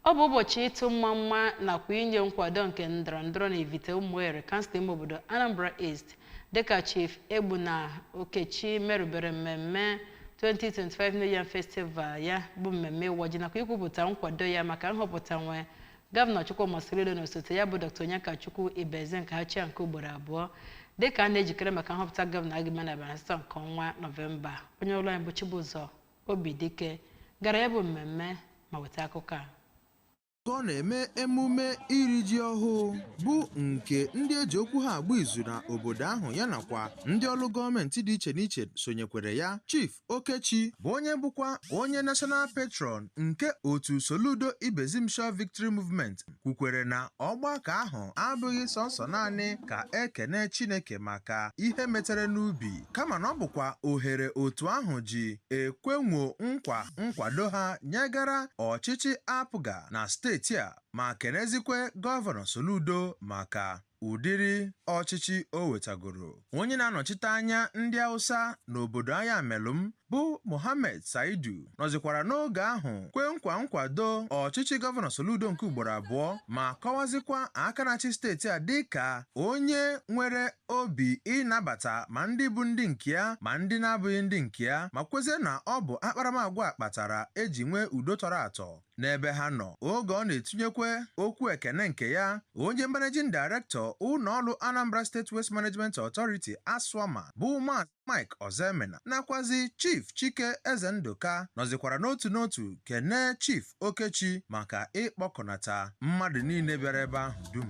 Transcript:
Ọ bụ ụbọchị ịtụ mmamma nakwa inye nkwado nke ndọrọ ndọrọ na Ivite Ụmụeri, kansụl ime obodo Anambra East, dịka Chief Egbuna Okechi merubere mmemme 2025 New Yam Festival ya bụ mmemme ịwa ji nakwa ikwupụta nkwado ya maka nhọpụta nwe Gọvanọ Chukwuma Soludo na osote ya bụ Dr. Onyekachukwu Ibezim ka ha chịa nke ugboro abụọ dịka a na-ejikere maka nhọpụta gọvanọ a ga-eme n'abalị asatọ nke ọnwa Nọvemba. Onye ọlụ anyị bụ Chibụzọ Obidike gara ya bụ mmemme ma weta akụkọ a. Ka ọ na-eme emume iri ji ọhụụ bụ nke ndị e ji okwu ha agba izu na obodo ahụ ya nakwa ndị ọlụ gọọmenti dị iche n'iche sonyekwere ya, Chief Okechi bụ onye bụkwa onye National Patron nke otu Soludo Ibezim Sure Victory Movement kwukwere na ọgbakọ ahụ abụghị sọsọ naanị ka e kene Chineke maka ihe e metere n'ubi kama na ọ bụkwa ohere otu ahụ ji ekwenwo nkwa nkwado ha nyegara ọchịchị APGA na steeti a ma kenezikwe Gọvanọ Soludo maka ụdịrị ọchịchị o wetagoro. Onye na-anọchite anya ndị Hausa n'obodo Ayamelụm bụ Mohammed Saidu nọzịkwara n'oge ahụ kwe nkwa nkwado ọchịchị Gọvanọ Soludo nke ugboro abụọ ma kọwazịkwa aka na-achị steeti a dịka onye nwere obi ịnabata ma ndị bụ ndị nke ya ma ndị na-abụghị ndị nke ya ma kwezie na ọ bụ akparamagwa a kpatara e ji nwee udo tọrọ atọ n'ebe ha nọ. Oge ọ na-etinyekwa okwu ekene nke ya, onye Managing Director ụlọọrụ Anambra State Waste Management Authority, ASWAMA, bụ Maazị Mike Ozoemena nakwazị Chief Chike Ezendụka nọzịkwara n'otu n'otu kenee Chief Okechi maka ịkpọkọnata mmadụ niile bịara ebe ahụ dum.